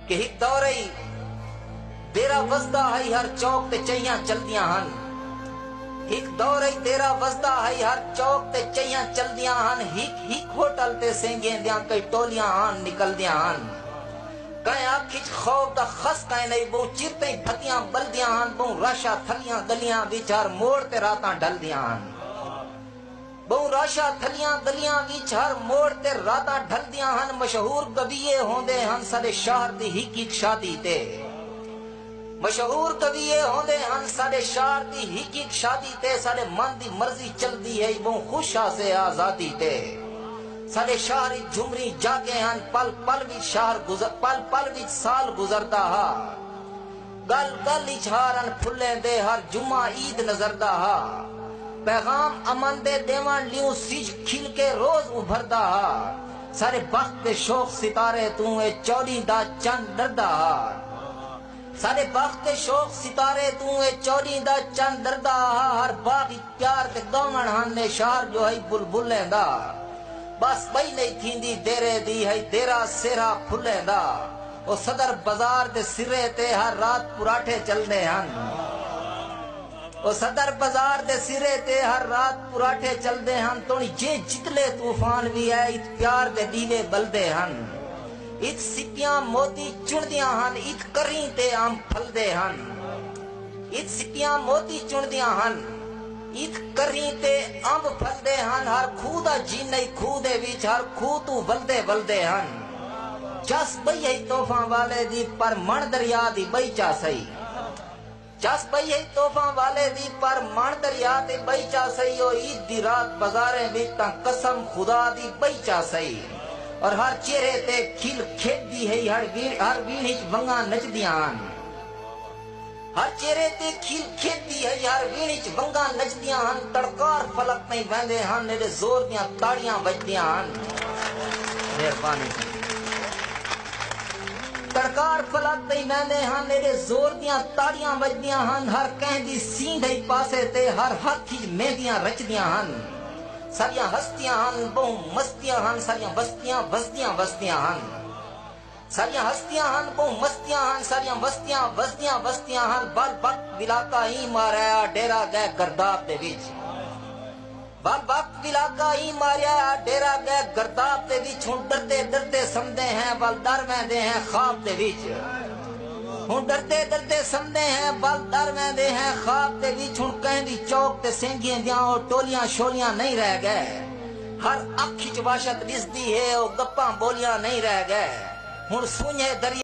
کہ ہک دور ہئی دیرہ وسدا ہئی ہر چوک تے چہیاں چلدیاں ہن ہک دور ہئی دیرہ وسدا ہئی ہر چوک تے چہیاں چلدیاں ہن ہک ہک ہوٹل تے سینگیں دیاں کئی ٹولیاں ہن نکلدیاں ہن کئیں اکھ اچ خوف دا خس کئیں نئی بہوں چر تئیں بھتیاں بلدیاں ہن بہوں رش آ تھلیاں گلیاں وچ ہر موڑ تے راتاں ڈھلدیاں ہن ٻہوں رش ہا تھلیاں گلیاں وچ ہر موڑ تے راتاں ڈھلدیاں ہن مشہور گویے ہوندے ہن ساڈے شہر دی ہک ہک شادی تے مشہور گویے ہوندے ہن ساڈے شہر دی ہک ہک شادی تے ساڈے من دی مرضی چلدی ہئی ٻہوں خوش ہاسے آزادی تے ساڈے شہر وچ جھمریں جاگیں ہن پل پل وچ شہر پل پل وچ سال گزردا ہا۔ گل گل اچ ہارن پھلیں دے ہر جمعہ عید نظردا ہا پیغام امن دے ڈیونڑ لیوں سجھ کھل کے روز ابھردا ہا سارے بخت دے شوق ستارے توں اے چوڈی دا چن ڈردا ہا سارے بخت دے شوق ستارے توں اے چوڈی دا چن ڈردا ہا ہر باغ اچ پیار تے گاونڑ ہن اے شہر جو ہئی بلبلیں دا بس بئی نئی تھیندی دیرے دی ہئی دیرہ سیرھا پھلیں دا۔ او صدر بزار دے سرے تے ہر رات پراٹھے چلنے ہن او صدر بزار دے سرے تے ہر رات پراٹھے چلنے ہن تون جے جتلے طوفان وی اے ات پیار دے ڈیوے بلدے ہن ات سپیاں موتی چندیاں ہن ات کریں تے ام پھلدے ہن ات سپیاں موتی چندیاں ہن ات کریں تے امب پھلدے ہن ہر کھو دا جینئی کھو دے وچ ہر کھو توں ولدے ولدے ہن۔ چس پئی ہئی طوفاں والے دی پر مݨ دریا دی ٻئی چا سئی چس پئی ہئی طوفاں والے دی پر مݨ دریا دی ٻئی چا سئی او عید دی رات بازاریں وچ تاں قسم خدا دی ٻئی چا سئی اور ہر چہرے تے کھل کھیݙدی ہئی ہر ویڑھ ہر ویڑھ وچ ونگاں نچدیاں ہن۔ ہر چہرے تے کھیل کھیدی ہئی ہر ویڑھ اچ ونگاں نچدیاں ہن تڑکار فلک تئیں ویندے ہن ایڈے زور دیاں تاڑیاں وجدیاں ہن مہربانی جی تڑکار فلک تئیں ویندے ہن ایڈے زور دیاں تاڑیاں وجدیاں ہن ہر کہیں دی سیندھ ہئی پاسے تے ہر ہتھ اچ مہندیاں رچدیاں ہن ساڈیاں ہستیاں ہن بہوں مستیاں ہن ساڈیاں بستیاں وسدیاں وسدیاں ہن۔ ساریاں ہستیاں ہن ٻہوں مستیاں ہن ساریاں وستیاں وسدیاں وستیاں ہن ول وقت ولاکا ایں ماریا ڈیرا گئے گرداب دے وچ ول وقت ولاکا ایں ماریا ڈیرا گئے گرداب دے وچ ہن ڈردے ڈردے سمدے ہیں ول ڈر ویندے ہیں خواب دے وچ ہن ڈردے ڈردے سمدے ہیں ول ڈر ویندے ہیں خواب دے وچ ہن کہیں دی چوک تے سینگھیے دیاں او ٹولیاں شولیاں نہیں رہ گئے ہر اکھ اچ وحشت ݙسدی ہے او گپاں ٻولیاں نئیں رہ ڳئے ہݨ سنڄھے دریا